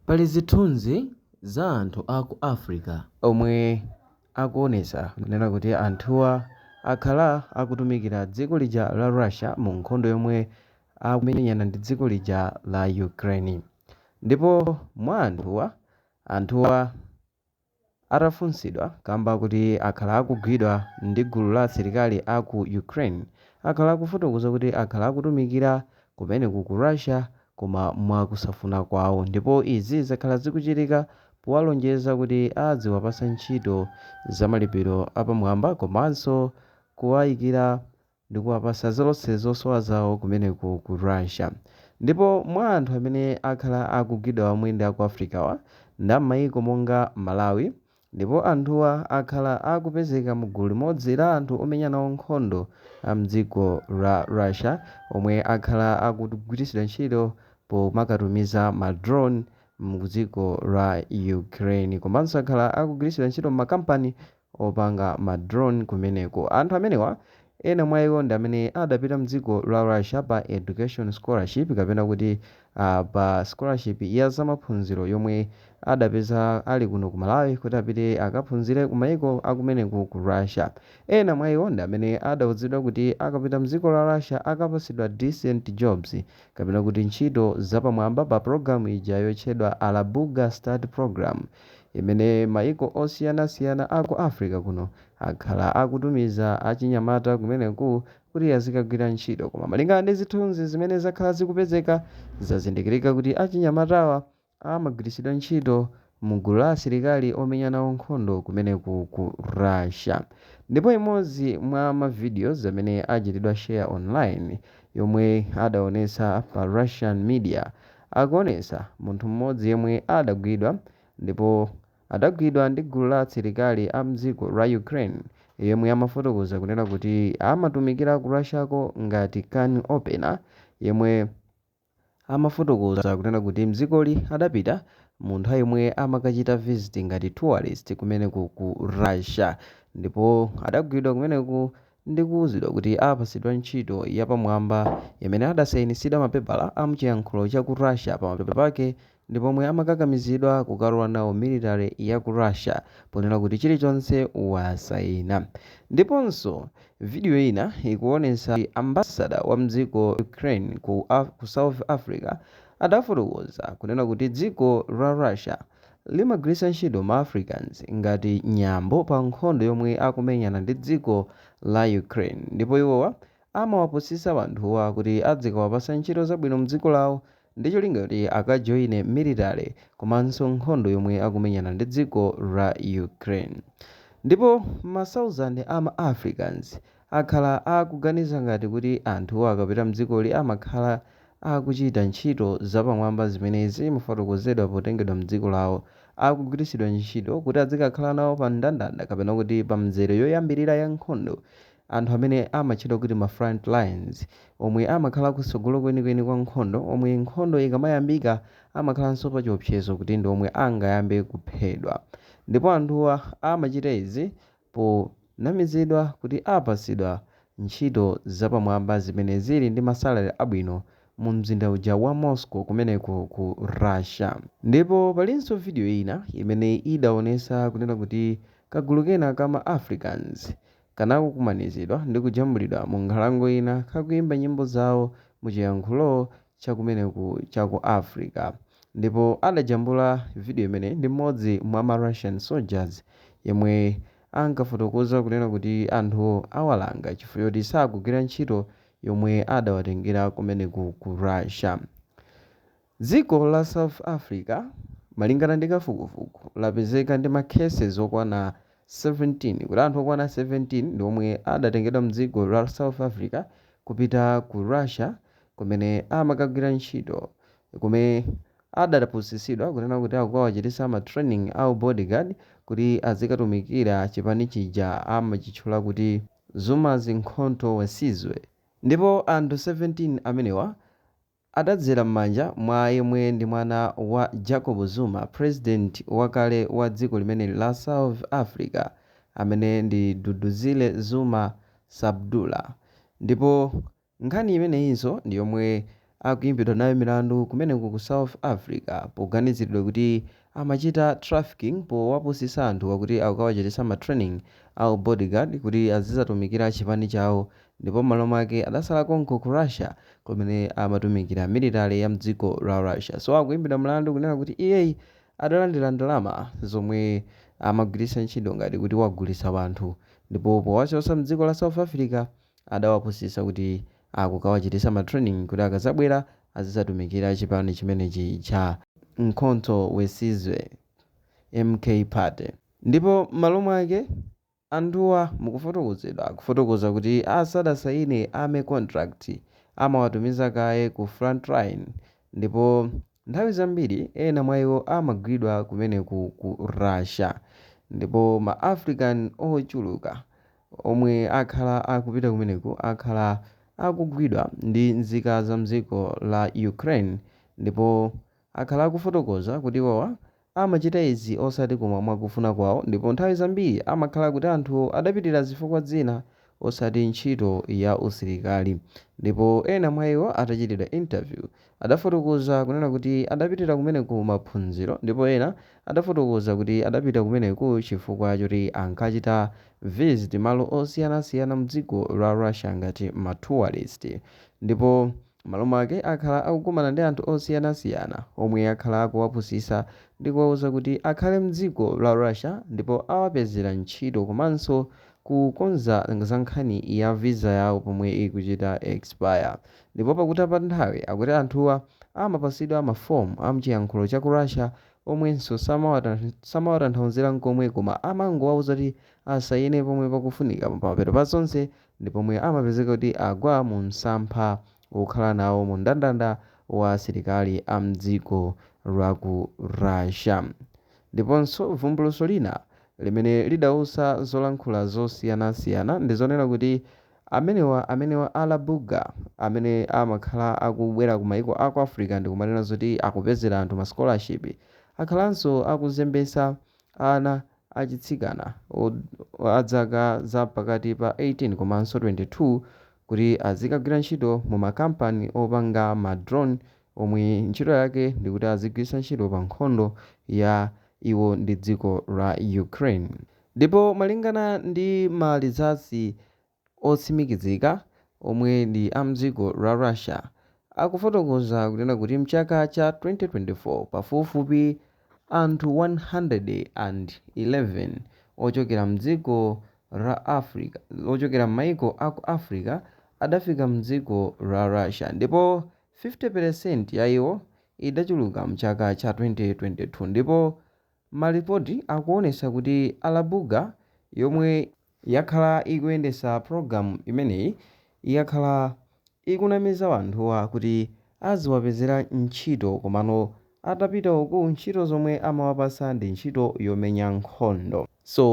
Pali zithunzi za anthu a ku Africa omwe akuonetsa kunena kuti anthuwa akhala akutumikira dziko lija la Russia mu nkhondo yomwe akumenyana ndi dziko lija la Ukraine. Ndipo mwa anthuwa, anthuwa. Atafunsidwa kamba kuti akhala akugwidwa ndi gulu la asilikali a ku Ukraine, akhala akufotokoza kuti akhala akutumikira kumeneku ku Russia koma mwa kusafuna kwawo ndipo izi zakhala zikuchitika powalonjeza kuti adziwapasa ntchito zamalipiro apamwamba komanso kuwayikira ndikuwapasa zonse zosowa zawo kumeneko ku Russia ndipo mwa anthu amene akhala akugwidwa omwe ndi aku Africawa ndi ammaiko monga Malawi ndipo anthuwa akhala akupezeka mugulu limodzi la anthu omenya nawo nkhondo amdziko la Russia omwe akhala akugwiritsidwa ntchito pomakatumiza ma drone mdziko la Ukraine komanso akhala akugwiritsidwa ntchito mmakampani opanga ma drone kumeneko. Anthu amenewa ena mwa iwo ndi amene adapita mdziko la Russia pa education scholarship kapena kuti pa scholarship ya zamaphunziro yomwe adapeza ali kuno ku Malawi kuti apite akaphunzire ku maiko akumeneko ku Russia. Ena mwa iwo ndi amene adauzidwa kuti akapita mdziko la Russia akapatsidwa decent jobs kapena kuti ntchito zapamwamba pa program ija yotchedwa Alabuga Start Programme. imene maiko osiyanasiyana a ku Africa kuno akhala akutumiza achinyamata kumeneku kuti azikagwira ntchito. Koma malingana ndi zithunzi zimene zakhala zikupezeka, zazindikirika kuti achinyamatawa amagwiritsidwa ntchito mgulu la asilikali omenya nawo nkhondo kumeneku ku Russia. Ndipo imodzi mwa ma videos amene achitidwa share online yomwe adaonetsa pa Russian media, akuonetsa munthu mmodzi yemwe adagwidwa ndipo adagwidwa ndi gulu la asilikali a mdziko la Ukraine yemwe amafotokoza kunena kuti amatumikira ku Russiako ngati can opener yemwe amafotokoza kunena kuti mdzikoli adapita munthu yemwe amakachita visit ngati tourist kumeneko ku Russia ndipo adagwidwa kumeneku Ndikuuzidwa kuti apatsidwa ntchito yapamwamba imene adasainitsidwa mapepala a mchiyankhulo cha ku Russia pamapeto pake ndi pomwe amakakamizidwa kukalowa nawo military ya ku Russia ponena kuti chilichonse wasaina. Ndiponso video ina ikuonetsa ambassador wa mdziko la Ukraine ku South Africa adafotokoza kunena kuti dziko la Russia. limagwiritsa ntchito ma Africans ngati nyambo pa nkhondo yomwe akumenyana ndi dziko la Ukraine ndipo iwowa amawapusisa wanthuwa kuti adzikawapasa ntchito zabwino mdziko lawo ndi cholinga choti akajoine military komanso nkhondo yomwe akumenyana ndi dziko la Ukraine ndipo ma thousand a ma Africans akhala akuganiza ngati kuti anthuwa akapita mdzikoli amakhala akuchita ntchito zapamwamba zimene zimafotokozedwa potengedwa mdziko lawo, akugwiritsidwa ntchito kuti adzikakhala nawo pa mndandanda kapena kuti pa mzere yoyambilira ya nkhondo, anthu amene amatchedwa kuti ma front lines, omwe amakhala kutsogolo kwenikweni kwa nkhondo, omwe nkhondo ikamayambika amakhalanso pa chiopsezo kuti ndi omwe angayambe kuphedwa, ndipo anthuwa amachita izi ponamizidwa kuti apatsidwa ntchito zapamwamba zimene zili ndi ma salary abwino mu mzinda uja wa Moscow kumeneko ku Russia. Ndipo palinso video ina imene idaonesa kunena kuti kagulu kena ka ma Africans kanakukumanizidwa ndi kujambulidwa mu nkhalango ina kakuimba nyimbo zawo mu chiyankhulo cha kumeneku cha ku Africa ndipo adajambula video imeneyi ndi mmodzi mwa ma Russian soldiers yemwe ankafotokoza kunena kuti anthuwo awalanga chifukwa choti sakugwira ntchito yomwe adawatengera kumeneku ku Russia. Dziko la South Africa malingana ndi kafukufuku lapezeka ndi ma cases okwana 17 kuti anthu okwana 17 ndi omwe adatengedwa m'dziko la South Africa kupita ku Russia kumene amakagwira ntchito kumene adapusitsidwa kunena kuti akukawachititsa ma training a u bodyguard kuti azikatumikira chipani chija amachitchula kuti Zuma's Mkhonto we Sizwe ndipo anthu 17 amenewa Adadzera m'manja mwa yemwe ndi mwana wa Jacob Zuma, President wakale wa dziko limeneli la South Africa amene ndi Duduzile Zuma Sambudla. Ndipo nkhani imeneyinso ndi yomwe akuyimbidwa nayo milandu kumeneko ku South Africa poganiziridwa kuti amachita trafficking powapusisa anthuwa kuti akukawachitisa ma training a u bodyguard kuti azizatumikira chipani chawo ndipo mmalo mwake adasala konko ku Russia kumene amatumikira military ya mdziko la Russia so akuimbidwa mlandu kunena kuti iyeyi adalandira ndalama zomwe amagwiritsa ntchito ngati kuti wagulitsa wanthu ndipo powachotsa mdziko la South Africa adawapusisa kuti akukawachitisa ma training kuti akazabwera azizatumikira chipani chimenechi cha Mkhonto we Sizwe, MK party, ndipo mmalo mwake anthuwa mukufotokozedwa akufotokoza kuti asadasaine army contract amawatumiza kaye ku frontline ndipo nthawi zambiri ena mwa iwo amagwidwa kumeneku ku Russia ndipo ma African ochuluka omwe akhala akupita kumeneku akhala akugwidwa ndi nzika za mdziko la Ukraine ndipo akhala akufotokoza kuti iwowa amachita izi osati koma mwakufuna kwawo ndipo nthawi zambiri amakhala kuti anthu adapitira zifukwa dzina osati ntchito ya usilikali ndipo ena mwa iwo atachitidwa interview adafotokoza kunena kuti adapitira kumeneku maphunziro ndipo ena adafotokoza kuti adapita kumeneku chifukwa choti ankachita visit malo osiyanasiyana mdziko la Russia ngati ma tourist ndipo mmalo mwake akhala akukumana ndi anthu osiyanasiyana omwe akhala akuwapusisa ndi kuwauza kuti akhale mdziko la Russia ndipo awapezera ntchito komanso kukonza za nkhani ya visa yawo pomwe ikuchita expire Ndipo pakutha pa nthawi akuti anthuwa amapatsidwa ma form a mchiyankhulo cha ku Russia omwenso samawatanthauzira nkomwe koma amangowauza kuti asayine pomwe pakufunika pamapeto pa zonse ndi pomwe amapezeka kuti agwa mu msampha wokhala nawo mu mndandanda wa asilikali a mdziko lwa ku Russia. Ndiponso vumbulutso lina limene lidausa zolankhula zosiyanasiyana ndi zonena kuti Amenewa amenewa Alabuga amene amakhala akubwera ku maiko a ku Africa ndikumanena zoti akupezera anthu ma scholarship akhalanso akuzembetsa ana achitsikana a dzaka za pakati pa 18 komanso 22 kuti azikagwira ntchito mu ma kampani opanga ma drone omwe ntchito yake ndikuti azigwiritsa ntchito pa nkhondo ya iwo ndi dziko la Ukraine. Ndipo malingana ndi ma results otsimikizika omwe ndi a mdziko la Russia akufotokoza kunena kuti mchaka cha 2024 pafupifupi anthu 111 ochokera mdziko la Africa ochokera mmaiko aku Africa adafika mdziko la Russia ndipo 50% ya iwo idachuluka mchaka cha 2022 ndipo Malipoti akuonesa kuti Alabuga yomwe yakhala ikuyendesa program imeneyi yakhala ikunamiza anthuwa kuti aziwapezera ntchito komano atapita uku ntchito zomwe amawapasa ndi ntchito yomenya nkhondo so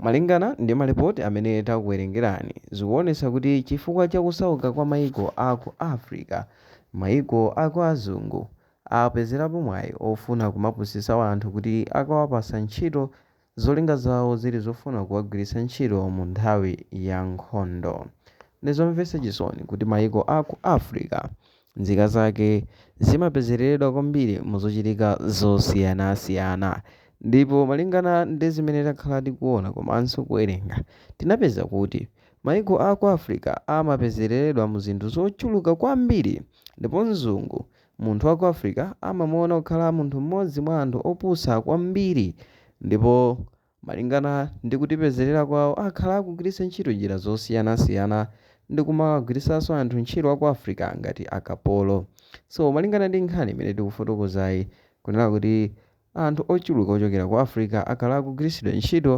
Malingana ndi malipoti amene takuwerengerani, zikuonetsa kuti chifukwa cha kusauka kwa maiko a ku Africa, maiko aku azungu apezerapo mwayi ofuna kumapusitsa anthu kuti akawapatsa ntchito zolinga zawo zili zofuna kuwagwiritsa ntchito mu nthawi ya nkhondo. Ndizomvetsa chisoni kuti maiko a ku Africa. Nzika zake zimapezereredwa kwambiri mu zochitika zosiyanasiyana. Ndipo malingana ndi zimene takhala tikuona komanso kuwerenga, tinapeza kuti maiko a ku Africa amapezereredwa mu zinthu zochuluka kwambiri. Ndipo mzungu, munthu wa ku Africa, amamuona kukhala munthu mmodzi mwa anthu opusa kwambiri ndipo. Malingana ndi kutipezerera kwawo akhala akugwiritsa ntchito njira zosiyanasiyana ndi kumawagwiritsanso anthu ntchito wa ku Africa ngati akapolo. So malingana ndi nkhani imene tikufotokozayi kunena kuti anthu ochuluka ochokera ku Africa akhala akugwiritsidwa ntchito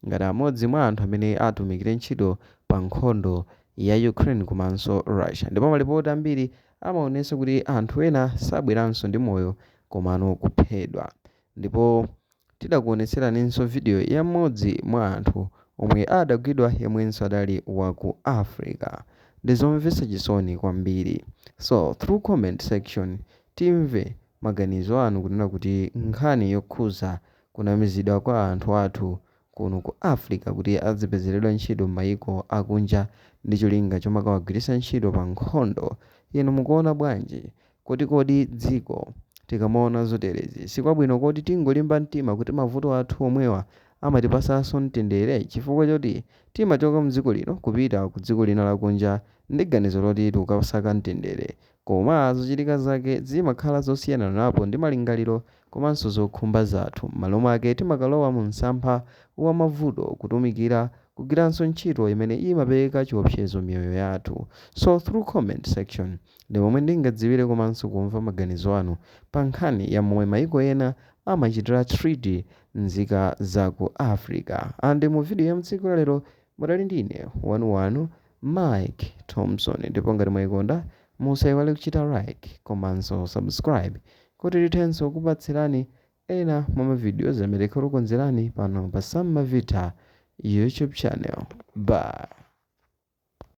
ngati amodzi mwa anthu amene atumikire ntchito pa nkhondo ya Ukraine komanso Russia ndipo malipoti ambiri amaonetsa kuti anthu ena sabweranso ndi moyo komano kuphedwa. Ndipo tidakuonetseraninso video ya mmodzi mwa anthu omwe adagwidwa yemwenso adali wa ku Africa. Ndi zomvetsa chisoni kwambiri. So through comment section timve maganizo anu kunena kuti nkhani yokhuza kunamizidwa kwa anthu athu kuno ku Africa kuti azipezeredwa ntchito mmayiko akunja ndi cholinga chomakawagwiritsa ntchito pa nkhondo, inu mukuona bwanji? Kuti kodi dziko tikamaona zoterezi sikwabwino kodi tingolimba mtima kuti mavuto athu omwewa amatipatsanso mtendere chifukwa choti timachoka mdziko lino kupita ku dziko lina lakunja ndi ganizo loti tikukasaka mtendere Koma zochitika zake zimakhala zosiyananapo ndi malingaliro komanso zokhumba zathu. M'malo mwake, timakalowa mu msampha wa mavuto, kutumikira, kugwiranso ntchito imene imapereka chiopsezo miyoyo yathu. So through comment section ndi momwe ndingadziwire komanso kumva maganizo anu pa nkhani ya momwe maiko ena amachitira treat nzika za ku Africa. And mu video ya mtsiku la lero mudali ndi ine wanuwanu Mike Thomson ndipo ngati mwaikonda musaiwale kuchita like komanso subscribe kuti tithenso kupatsirani ena mwa ma videos amene tikhale takonzerani pano pa Sam Mavitha YouTube channel. Bye.